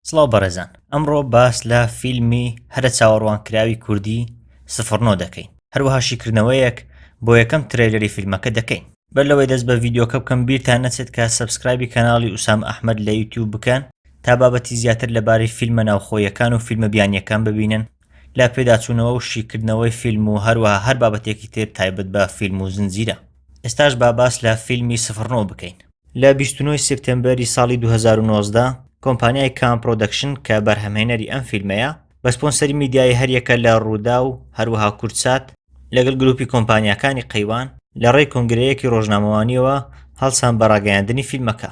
سڵاو بەڕێزان ئەمڕۆ باس لە فیلمی هەرە چاوەڕوانکراوی کوردی سفر نۆ دەکەین هەروەها شیکردنەوەیەک بۆ یەکەم ترەیلەری فیلمەکە دەکەین بەر لەوەی دەست بە ڤیدیۆکە بکەم بیرتان نەچێت کە سەبسکرایبی کەناڵی ئوسام ئەحمەد لە یوتیوب بکەن تا بابەتی زیاتر لەبارەی فیلمە ناوخۆیەکان و فیلمە بیانییەکان ببینن لە پێداچوونەوە و شیکردنەوەی فیلم و هەروەها هەر بابەتێکی تر تایبەت بە فیلم و زنجیرە. ئێستاش با باس لە فیلمی سفر نۆ بکەین. لە بیست و نۆ سێپتێمبەری ساڵی دوو هەزار و نۆزدە، کۆمپانیای کام پرۆدەکشن کە بەرهەمهێنەری ئەم فیلمەیە، بە سپۆنسەری میدیایی هەریەکە لە رووداو، هەروەها کوردسات، لەگەڵ گروپی کۆمپانیاکانی قەیوان، لە رێی کۆنگرەیەکی رۆژنامەوانییەوە هەڵسان بە راگەیاندنی فیلمەکە.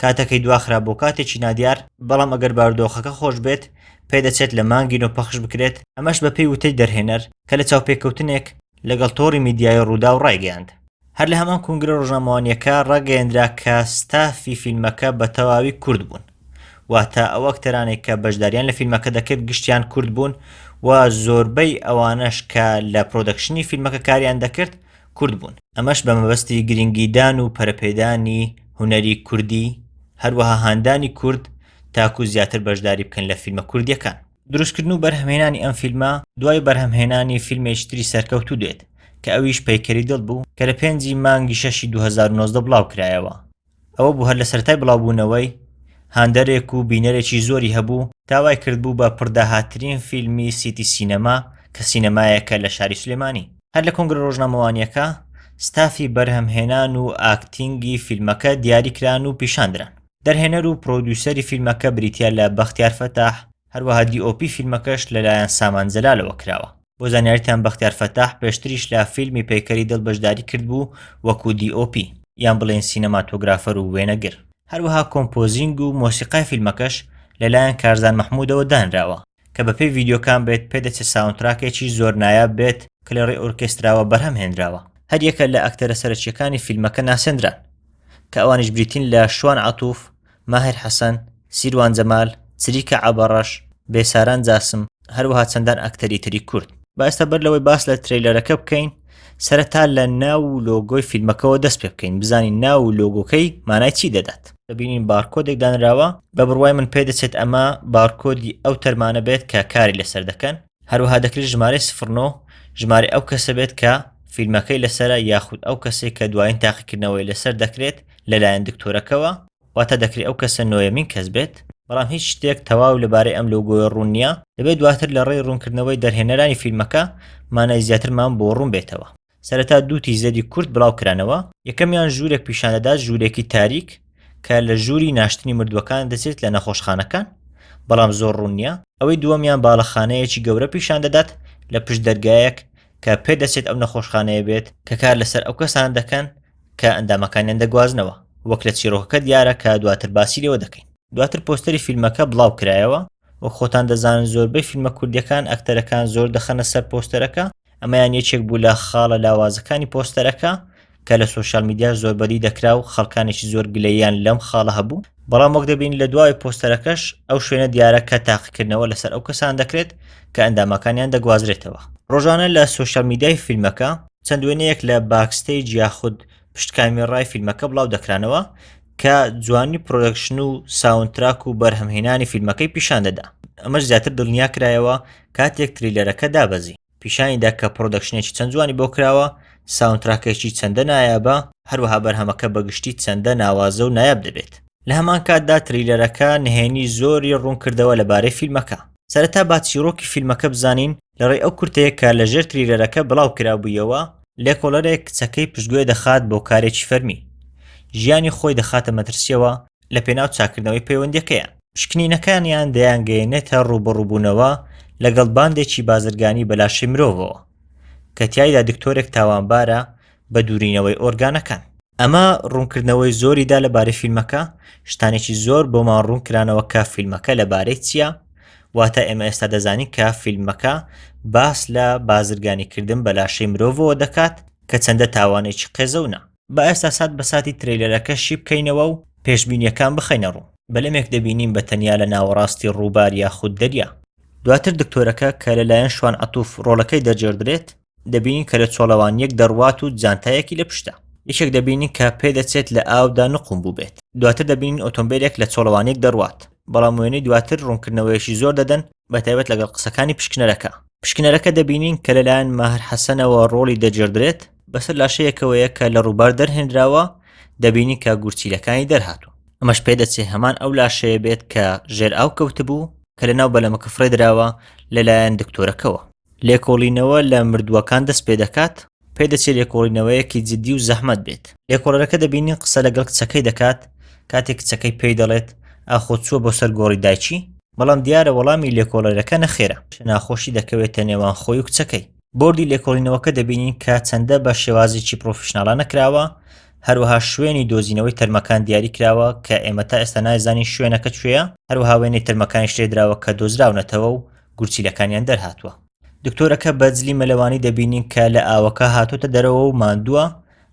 کاتەکەی دواخرا بۆ کاتێکی نادیار، بەڵام ئەگەر بارودۆخەکە خۆش بێت، پێدەچێت لە مانگی نۆ پەخش بکرێت، ئەمەش بەپێی وتەی دەرهێنەر کە لە چاوپێکەوتنێک لەگەڵ تۆڕی میدیایی رووداو رایگەیاند. هەر لە هەمان کونگرە رۆژنامەوانییەکە راگەیەندرا کە ستافی فیلمەکە بە تەواوی کورد بوون، واتە ئەو ئەکتەرانەی کە بەشدارییان لە فیلمەکە دەکرد گشتیان کورد بوون و زۆربەی ئەوانەش کە لە پرۆدەکشنی فیلمەکە کاریان دەکرد کورد بوون، ئەمەش بە مەبەستی گرنگیدان و پەرەپێدانی هونەری کوردی هەروەها هاندانی کورد تاکو زیاتر بەشداری بکەن لە فیلمە کوردیەکان. دروستکردن و بەرهەمهێنانی ئەم فیلمە دوای بەرهەمهێنانی فیلمێکی تری سەرکەوتوو دێت کە ئەویش پەیکەری دڵ بوو کە لە پێنج ی مانگی شەش ی دوو هەزار و نۆزدە بڵاوکرایەوە ئەوە بوو هەر لە سەرەتای بڵاوبوونەوەی هاندەرێک و بینەرێکی زۆری هەبوو تا وای کردبوو بە پڕداهاتترین فیلمی سیتی سینەما کە سینەمایەکە لە شاری سلێمانی. هەر لە کۆنگرە ڕۆژنامەوانییەکە ستافی بەرهەمهێنان و ئاکتینگی فیلمەکە دیاریکران و پیشاندران. دەرهێنەر و پرۆدیوسەری فیلمەکە بریتییە لە بەختیار فەتاح، هەروەها دی ئۆ پی فیلمەکەش لەلایەن سامان جەلالەوە کراوە. بۆ زانیاریتان بەختیار فەتاح پێشتریش لە فیلمی پەیکەری دڵ بەشداری کردبوو وەکو دی ئۆ پی، یان بڵێین سینەماتۆگرافەر و وێنەگر. هەروەها کۆمپۆزینگ و مۆسیقای فیلمەکەش لەلایەن کارزان مەحمودەوە دانراوە. کە بەپێی ڤیدیۆکان بێت پێدەچێت ساوندتراکێکی زۆر نایاب بێت کە لە ڕێی ئۆرکێستراوە بەرهەم هێنراوە هەر یەکە لە ئەکتەرە سەرەکیەکانی فیلمەکە ناسێنران کە ئەوانیش بریتین لە شوان عتوف ماهر حەسەن سیروان جەمال چریکە عبەڕەش بێساران جاسم هەروەها چەندان ئەکتەری تری کورد باستا بەر لەوەی باس لە تریلەرەکە بکەین سەرەتا لە ناو و لۆگۆی فیلمەکەەوە دەست پێ بکەین بزانین ناو و لۆگۆکەی مانای چی دەدات دەبینین بارکۆدێک دانراوە بە بڕوای من پێ دەچێت ئەمە بارکۆدی ئەو تەرمانە بێت کە کاری لەسەر دەکەن هەروەها دەکرێت ژمارەی سفرنۆ ژمارە ئەو کەسە بێت کە فیلمەکەی لەسرە یاخود ئەو کەسێک کە دوایین تاقیکردنەوەی لەسەر دەکرێت لەلایەن دکتۆرەکەەوە واتە دەکرێت ئەو کەسە نۆیەمین کەس بێت، بەڵام هیچ شتێک تەواو لەبارەی ئەم لۆگۆیە ڕوون نییە، دەبێت دواتر لە ڕێی ڕوونکردنەوەی دەرهێنەرانی فیلمەکە مانای زیاترمان بۆ ڕوون بێتەوە. سەرەتا دوو تیز لەدی کورت بڵاو کرانەوە، یەکەمیان ژوورێک پیشان دەدات ژوورێکی تاریک کە لە ژووری ناشتنی مردووەکان دەچێت لە نەخۆشخانەکان بەڵام زۆر ڕوون نییە، ئەوەی دووەمیان باڵەخانەیەکی گەورە پیشان دەدات لە پشت دەرگایەک کە پێدەچێت ئەو نەخۆشخانەیە بێت کە کار لەسەر ئەو کەسانە دەکەن کە ئەندامەکانیان دەگوازنەوە، وەک لە چیڕۆکەکە دیارە کە دواتر باسی لێوە دەکەین. دواتر پۆستەری فیلمەکە بڵاو کرایەوە، وەک خۆتان دەزانن زۆربەی فیلمە کوردیەکان ئەکتەرەکان زۆر دەخەنە سەر پۆستەرەکە، ئەمەیان یەکێک بوو لە خاڵە لاوازەکانی پۆستەرەکە کە لە سۆشیال میدیاش زۆر بەدی دەکرا و خەڵکانێکی زۆر گلەییان لەم خاڵە هەبوو، بەڵام وەک دەبینین لە دواوەی پۆستەرەکەش ئەو شوێنە دیارە کە تاقیکردنەوە لەسەر ئەو کەسانە دەکرێت کە ئەندامەکانیان دەگوازرێتەوە. ڕۆژانە لە سۆشیال میدیای فیلمەکە چەند وێنەیەک لە باکستەیج یاخود پشت کامیێڕای فیلمەکە بڵاو دەکرانەوە کە جوانی پرۆدەکشن و ساونتراک و بەرهەمهێنانی فیلمەکەی پیشان دەدا ئەمەش زیاتر دڵنیا کرایەوە کاتێک تریلەرەکە دابەزی پیشانیدا کە پرۆدەکشنێکی چەند جوانی بۆ کراوە ساونتراکێکی چەندە نایابە هەروەها بەرهەمەکە بەگشتی چەندە ناوازە و نایاب دەبێت لە هەمان کاتدا تریلەرەکە نهێنی زۆری ڕوون کردەوە لەبارەی فیلمەکە سەرەتا با چیرۆکی فیلمەکە بزانین لەڕێی ئەو کورتەیە کە لەژێر تریلەرەکە بڵاوکرابوویەوە، لێکۆڵەرێک کچەکەی پشتگوێ دەخات بۆ کارێکی فەرمی، ژیانی خۆی دەخاتە مەترسییەوە لەپێناو چاککردنەوەی پەیوەندییەکەیان. پشکنینەکانیان دەیانگەیەنێتە ڕووبەڕووبوونەوە لەگەڵ باندێکی بازرگانی بە لاشەی مرۆڤەوە، کە تیایدا دکتۆرێک تاوانبارە بە دوورینەوەی ئۆرگانەکان. ئەمە ڕوونکردنەوەی زۆری دا لەبارەی فیلمەکە، شتانێکی زۆر بۆمان ڕوون کرانەوە کە فیلمەکە لەبارەی چییە، واتە ئێمە ئێستا دەزانین کە فیلمەکە باس لە بازرگانیکردن بە لاشەی مرۆڤەوە دەکات کە چەندە تاوانێکی قێزەونە. با ئێستا سات بە ساتی ترەیلەرەکە شی بکەینەوە و پێشبینییەکان بخەینە ڕوو. بەلەمێک دەبینین بە تەنیا لە ناوەڕاستی ڕووبار یاخود دەریا. دواتر دکتۆرەکە کە لەلایەن شوان عەتوف ڕۆڵەکەی دەرجێڕدرێت، دەبینین کە لە چۆڵەوانیەک دەڕوات و جانتایەکی لە پشتە یەکێک دەبینین کە پێ دەچێت لە ئاودا نقوم بووبێت دواتر دەبینین ئۆتۆمبیلێک لە چۆڵەوانێک دەڕوات بەڵام وێنەی دواتر ڕوونکردنەوەیەکی زۆر دەدەن بە تایبەت لەگەڵ قسەکانی پشکنەرەکە پشکنەرەکە دەبینین کە لەلایەن ماهر حەسەنەوە ڕۆڵی دەجێردرێت بەسەر لاشەیەکەوەیە کە لە ڕووبار دەرهێنراوە دەبینی کە گورچیلەکانی دەرهاتوون ئەمەش پێ دەچێ هەمان ئەو لاشەیە بێت کە ژێر ئاو کەوتبوو کە لە ناو بەلەمەکە فڕێدراوە لەلایەن دکتۆرەکەەوە لێکۆڵینەوە لە مردووەکان دەست پێ دەکات، پێدەچێت لێکۆڵینەوەیەکی جددی و زەحمەت بێت. لێکۆڵەرەکە دەبینین قسە لەگەڵ کچەکەی دەکات کاتێک کچەکەی پێی دەڵێت ئاخۆ چووە بۆ سەر گۆڕی دایکی؟ بەڵام دیارە وەڵامی لێکۆڵەرەکە نەخێرە. ناخۆشی دەکەوێتە نێوان خۆی و کچەکەی. بۆردی لێکۆڵینەوەکە دەبینین کە چەندە بە شێوازێکی پڕۆفیشناڵانە کراوە، هەروەها شوێنی دۆزینەوەی تەرمەکان دیاری کراوە کە ئێمە تا ئێستا نایزانین شوێنەکە کوێیە، هەروەها وێنەی تەرمەکانیش لێدراوە کە دۆزراونەتەوە و گورچیلەکانیان دەرهاتووە. دکتۆرەکە بە جلی مەلەوانی دەبینین کە لە ئاوەکە هاتۆتە دەرەوە و ماندووە،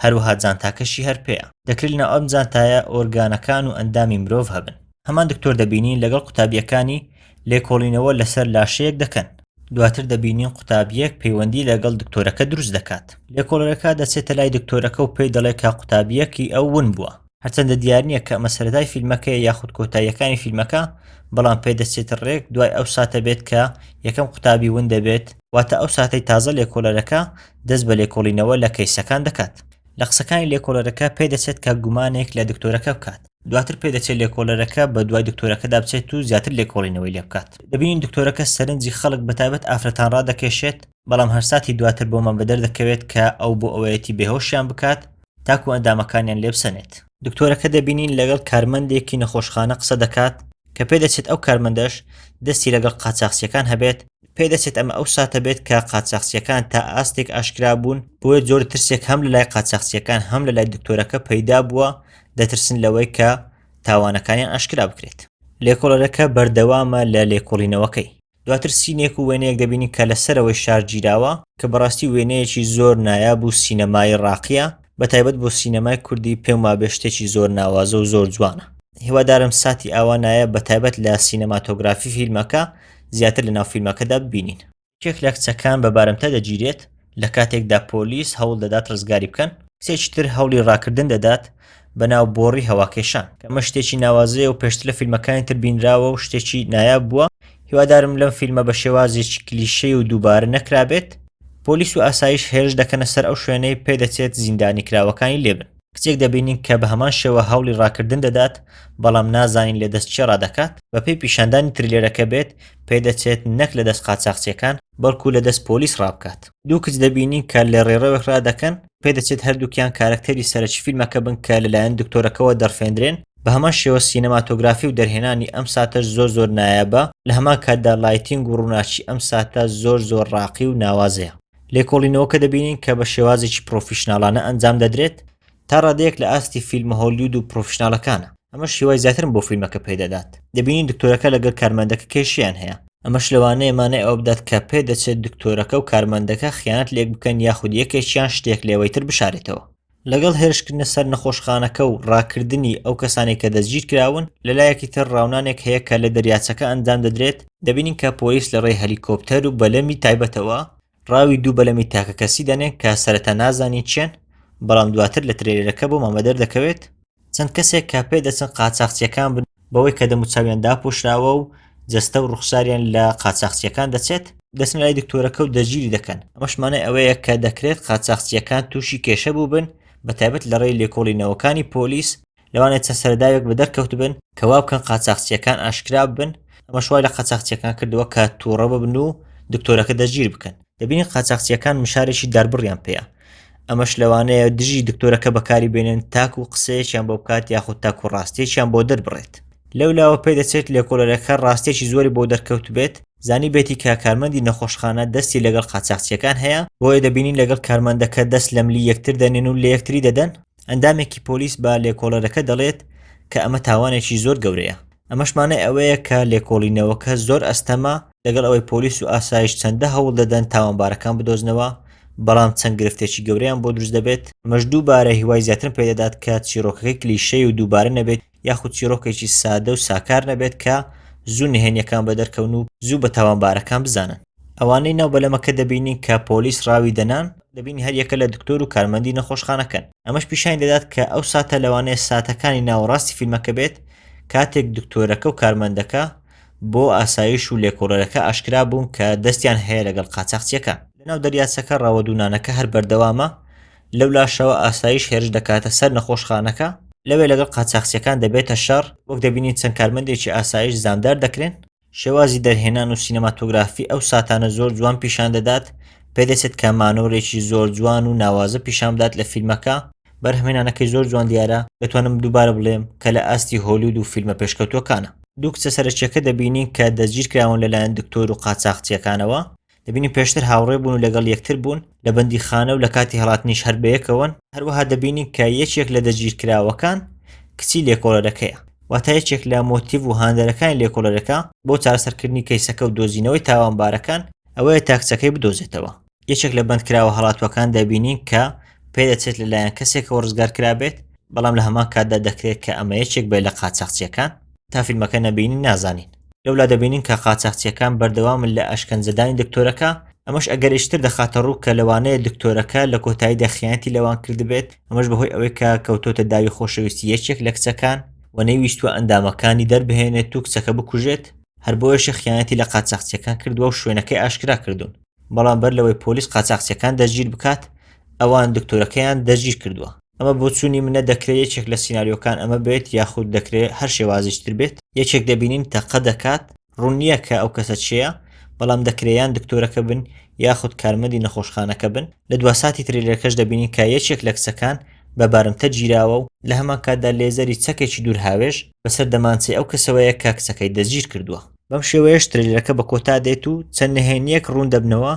هەروەها جانتاکەشی هەر پێیە. دەکرێت لەناو ئەم جانتایە ئۆرگانەکان و ئەندامی مرۆڤ هەبن. هەمان دکتۆر دەبینین لەگەڵ قوتابییەکانی لێکۆڵینەوە لەسەر لاشەیەک دەکەن. دواتر دەبینین قوتابییەک پەیوەندی لەگەڵ دکتۆرەکە دروست دەکات. لێکۆڵەرەکە دەچێتە لای دکتۆرەکە و پێی دەڵێت کە قوتابییەکی ئەو ون بووە. هەرچەندە دیار نییە کە ئەمە سەرەتای فیلمەکەی یاخود کۆتاییەکانی فیلمەکە بەڵام پێدەچێت ڕێک دوای ئەو ساتە بێت کە یەکەم قوتابی ون دەبێت واتە ئەو ساتەی تازە لێکۆڵەرەکە دەست بە لێکۆڵینەوە لە کەیسەکان دەکات لە قسەکانی لێکۆڵەرەکە پێدەچێت کە گومانێک لە دکتۆرەکە بکات دواتر پێدەچێت لێکۆڵەرەکە بە دوای دکتۆرەکەدا بچێت و زیاتر لێکۆڵینەوەی لێ بکات دەبینین دکتۆرەکە سەرنجی خەڵک بەتابەت ئافرەتان ڕادەکێشێت بەڵام هەرساتی دواتر بۆمان بەدەر دەکەوێت کە ئەو بۆ ئەوەیەتی بێهۆشیان بکات تاکو ئەندامەکانیان لێبسەنێت. دکتۆرەکە دەبینین لەگەڵ کارمەندێکی نەخۆشخانە قسە دەکات کە پێدەچێت ئەو کارمەندەش دەستی لەگەڵ قاچاخچیەکان هەبێت، پێدەچێت ئەمە ئەو ساتە بێت کە قاچاخچیەکان تا ئاستێک ئاشکرا بوون، بۆیە جۆرە ترسێک هەم لەلای قاچاخچیەکان هەم لەلای دکتۆرەکە پەیدا بووە، دەترسن لەوەی کە تاوانەکانیان ئاشکرا بکرێت. لێکۆڵەرەکە بەردەوامە لە لێکۆڵینەوەکەی. دواتر سینێک و وێنەیەک دەبینین کە لە سەرەوەی شار گیراوە کە بەڕاستی وێنەیەکی زۆر نایاب و سینەمایی ڕاقیە بە تایبەت بۆ سینەمای کوردی پێم وابێ شتێکی زۆر ناوازە و زۆر جوانە هیوادارم ساتی ئاوا نایاب بە تایبەت لە سینەماتۆگرافی فیلمەکە زیاتر لە ناو فیلمەکەدا ببینین. یەکێک لە کچەکان بە بارمتە دەگیرێت. لە کاتێکدا پۆلیس هەوڵ دەدات ڕزگاری بکەن، کچێکی تر هەوڵی ڕاکردن دەدات بەناو بۆڕی هەواکێشان، کە ئەمە شتێکی ناوازەیە و پێشتر لە فیلمەکانی تر بینراوە و شتێکی نایاب بووە، هیوادارم لەم فیلمە بە شێوازێکی کلیشەیی و دووبارە نەکرابێت، پۆلیس و ئاسایش هێرش دەکەنە سەر ئەو شوێنەی پێدەچێت زیندانیکراوەکانی لێبن. کچێک دەبینین کە بە هەمان شێوە هەوڵی ڕاکردن دەدات، بەڵام نازانین لە دەست چێ ڕادەکات، بەپێی پیشاندانی ترلێرەکە بێت، پێدەچێت نەک لە دەست قاچاخچیەکان، بەڵکو لە دەست پۆلیس ڕابکات. دوو کچ دەبینین کە لە ڕێڕەوێک ڕادەکەن، پێدەچێت هەردووکیان کارەکتەری سەرەکی فیلمەکە بن کە لەلایەن دکتۆرەکەوە دەڕفێندرێن، بە هەمان شێوە سینەماتۆگرافی و دەرهێنانی ئەم ساتەش زۆر زۆر نایابە، لە هەمان کاتدا لایتینگ و ڕووناکی ئەم ساتە زۆر زۆر ڕاقی و ناوازەیە. لێکۆڵینەوەکە دەبینین کە بە شێوازێکی پڕۆفیشناڵانە ئەنجام دەدرێت، تا ڕادەیەک لە ئاستی فیلمە هۆلیود و پڕۆفیشناڵەکانە، ئەمەش هیوای زیاترم بۆ فیلمەکە پێ دەدات، دەبینین دکتۆرەکە لەگەل کارمەندەکە کێشەیان هەیە، ئەمەش لەوانەیە مانای ئەوە بدات کە پێدەچێت دکتۆرەکە و کارمەندەکە خیانەت لە یەک بکەن یاخود یەکێکیان شتێک لە ئەوەی تر بشارێتەوە. لەگەڵ هێرشکردنە سەر نەخۆشخانەکە و ڕاکردنی ئەو کەسانەی کە دەستگیرکراون، لەلایەکی تر ڕاونانێک هەیە کە لە دەریاچەکە ئەنجام دەدرێت، دەبینین کە پۆلیس لە ڕێی هەلیکۆپتەر و بەلەمی تایبەتەوە ڕاوی دوو بەلەمی تاکەکەسی دەنێن کە سەرەتا نازانین چییەن، بەڵام دواتر لە ترێلێرەکە بۆمان بەدەردەکەوێت، چەند کەسێک کە پێدەچن قاچاخچییەکان بن بەوەی کە دەموچاویان داپۆشراوە و جەستە و ڕوخساریان لە قاچاخچییەکان دەچێت، دەچنە لای دکتۆرەکە و دەستگیری دەکەن، ئەمەش مانای ئەوەیە کە دەکرێت قاچاخچییەکان تووشی کێشە بووبن، بەتایبەت لە ڕێی لێکۆڵینەوەکانی پۆلیس، لەوانەیە چەند سەرەداوێک بەدەر کەوتبن کە وا بکەن قاچاخچییەکان ئاشکرا ببن، ئەمەش وای لە قاچاخچییەکان کردووە کە تووڕە ببن و دکتۆرەکە دەستگیر بکەن. دەبینی قاچاخچیەکان مشارێکی داربڕیان پێیە ئەمەش لەوانەیە دژی دکتۆرەکە بەکاری بێنن تاکو و قسەیەکیان بۆ بکات یاخود تاکو و ڕاستێکیان بۆ دەربڕێت لەو لاوە پێ دەچێت لێکۆلەرەکە ڕاستێکی زۆری بۆ دەرکەوت بێت زانی بێتی کە کارمەندی نەخۆشخانە دەستی لەگەڵ قاچاخچیەکان هەیە بۆیە دەبینین لەگەڵ کارمەندەکە دەست لەملی یەکتر دەنێن و لە یەکتری دەدەن ئەندامێکی پۆلیس بە لێکۆڵەرەکە دەڵێت کە ئەمە تاوانێکی زۆر گەورەیە ئەمەش مانای ئەوەیە کە لێکۆڵینەوەکە زۆر ئەستەمە لەگەڵ ئەوەی پۆلیس و ئاسایش چەندە هەوڵ دەدەن تاوانبارەکان بدۆزنەوە بەڵام چەند گرفتێکی گەورەیان بۆ دروست دەبێت ئەمەش دووبارە هیوای زیاترم پێدەدات کە چیرۆکەکەی کلیشەی و دووبارە نەبێت یاخود چیرۆکێکی سادە و ساکار نەبێت کە زوو نهێنیەکان بە دەرکەون و زوو بە تاوانبارەکان بزانن ئەوانەی ناو بەلەمەکە دەبینین کە پۆلیس ڕاوی دەنان دەبینی هەر یەکە لە دکتۆر و کارمەندی نەخۆشخانەکەن ئەمەش پیشانی دەدات کە ئەو ساتە لەوانەیە ساتەکانی ناوەڕاستی فیلمەکە بێت کاتێک دکتۆرەکە و کارمەندەکە بۆ ئاسایش و لێکۆڵەرەکە ئاشکرا بوون کە دەستیان هەیە لەگەڵ قاچاخچیەکان. لەناو دەریاچەکە ڕەوە دوونانەکە هەر بەردەوامە، لەولاشەوە ئاسایش هێرش دەکاتە سەر نەخۆشخانەکە، لەوێ لەگەڵ قاچاخچیەکان دەبێتە شەڕ، وەک دەبینین چەند کارمەندێکی ئاسایش زامدار دەکرێن، شێوازی دەرهێنان و سینەماتۆگرافی ئەو ساتانە زۆر جوان پیشان دەدات، پێدەچێت کە مانۆرێکی زۆر جوان و ناوازە پیشان بدات لە فیلمەکە، بەرهەمهێنانەکەی زۆر جوان دیارە، دەتوانم دووبارە بڵێم کە لە ئاستی هۆلیود و فیلمە پێشکەوتووەکانە. دوو کچە سەرەکییەکە دەبینین کە دەستگیرکراون لەلایەن دکتۆر و قاچاخچییەکانەوە، دەبینین پێشتر هاوڕێ بوون و لەگەڵ یەکتر بوون لە بەندیخانە و لە کاتی هەڵاتنیش هەر بەیەکەوەن هەروەها دەبینین کە یەکێک لە دەگیرکراوەکان کچی لێکۆڵەرەکەیە واتە یەکێک لە مۆتیڤ و هاندەرەکانی لێکۆڵەرەکە بۆ چارەسەرکردنی کەیسەکە و دۆزینەوەی تاوانبارەکان ئەوەیە تا کچەکەی بدۆزێتەوە یەکێک لە بەندکراوە هەڵاتوەکان دەبینین کە پێدەچێت لەلایەن کەسێکەوە ڕزگار کرابێت بەڵام لە هەمان کاتدا دەکرێت کە ئەمە یەکێک بێت لە قاچاخچیەکان تا فیلمەکە نەبینین نازانین. لەولا دەبینین کە قاچاخچیەکان بەردەوامن لە ئەشکەنجەدانی دکتۆرەکە، ئەمەش ئەگەرێکی تر دەخاتە ڕوو کە لەوانەیە دکتۆرەکە لە کۆتاییدا خیانەتی لەوان کردبێت، ئەمەش بەهۆی ئەوەی کە کەوتۆتە داوی خۆشەویستی یەکێک لە کچەکان و نەیویستووە ئەندامەکانی دەربهێنێت و کچەکە بکوژێت، هەر بۆیەشە خیانەتی لە قاچاخچیەکان کردووە و شوێنەکەی ئاشکرا کردوون. بەڵام بەر لەوەی پۆلیس قاچاقچیەکان دەستگیر بکات ئەوان دکتۆرەکەیان دەستگیر کردووە ئەمە بۆچوونی منە دەکرێت یەکێک لە سینناریۆکان ئەمە بێت یاخود دەکرێت هەر شێوازیشتر بێت یەکێک دەبینین تەقە دەکات ڕوون نییە کە ئەو کەسە چێە بەڵام دەکرێیان دکتۆرەکە بن یاخود کارمەندی نەخۆشخانەکە بن لە دواساتی ترێلەکەش دەبینین کە یەکێک لە کچەکان بە بارمتە گیراوە و لە هەمان کاتدا لێزەری چەکێکی دوور هاوێش بەسەر دەمانچەی ئەو کەسەوەیە کە کچەکەی دەستگیر کردووە بەم شێوەیەش ترلەکە بە کۆتا دێت و چەند نهێنیەک ڕوون دەبنەوە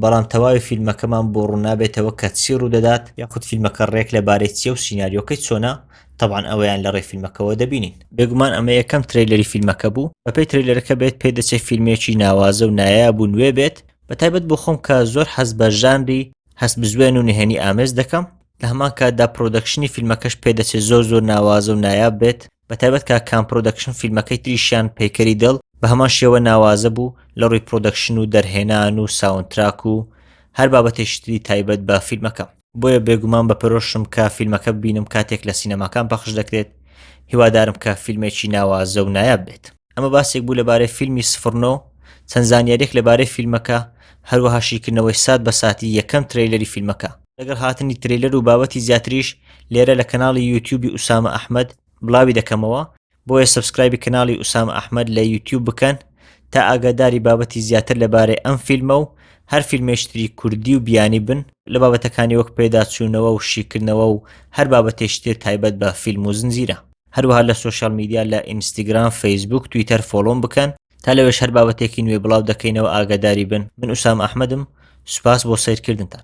بەڵام تەواوی فیلمەکەمان بۆ ڕوونابێتەوە کە چی ڕوودەدات یاخود فیلمەکە ڕێک لەبارەی چیە و سینناریۆکەی چۆنە تەبان ئەوەیان لە ڕێ فیلمەکەەوە دەبینین بێگومان ئەمە یەکەم تریلەری فیلمەکە بوو بەپی تریلەرەکە بێت پێ دەچێت فیلمێکی ناوازە و نایە بوو نوێ بێت بە تایبەت بۆ خۆم کە زۆر حەز بە ژانری هەست بزوێن و نهێنی ئامێز دەکەم لە هەمان کاتدا پرۆدەکشنی فیلمەکەش پێدەچێت زۆر زۆر ناوازە و نایاب بێت بەتایبەت کاک کام پرۆدەکشن فیلمەکەی تریشیان پەیکەری دڵ بەهەمان شێوە ناوازە بوو لەڕووی پرۆدەکشن و دەرهێنان و ساوند تراک و هەر بابەتێکی تری تایبەت بە فیلمەکە. بۆیە بێگومان بەپەرۆشم کە فیلمەکە ببینم کاتێک لە سینەماکان پەخش دەکرێت، هیوادارم کە فیلمێکی ناوازە و نایاب بێت. ئەمە باسێک بوو لەبارەی فیلمی سفر نۆ، چەند زانیارییەک لەبارەی فیلمەکە، هەروەها شیکردنەوەی سات بە ساتی یەکەم ترەیلەری فیلمەکە. لەگەڵ هاتنی ترەیلەر و بابەتی زیاتریش لێرە لە کەناڵی یوتیوبی ئوسامە ئەحمەد بڵاوی دەکەمەوە، بۆیە سەبسکرایبی کەناڵی ئوسامە ئەحمەد لە یوتیوب بکەن تا ئاگاداری بابەتی زیاتر لەبارەی ئەم فیلمە و هەر فیلمێش تری کوردی و بیانی بن لە بابەتەکانی وەک پێداچوونەوە و شیکردنەوە و هەر بابەتێکی تر تایبەت بە فیلم و زنجیرە. هەروەها لە سۆشیال میدیا لە ئینستیگرام فەیسبووک تویتەر فۆڵۆم بکەن تا لەوێش هەر بابەتێکی نوێ بڵاو دەکەینەوە ئاگاداری بن من ئوسام ئەحمەدم سوپاس بۆ سەیرکردنتان.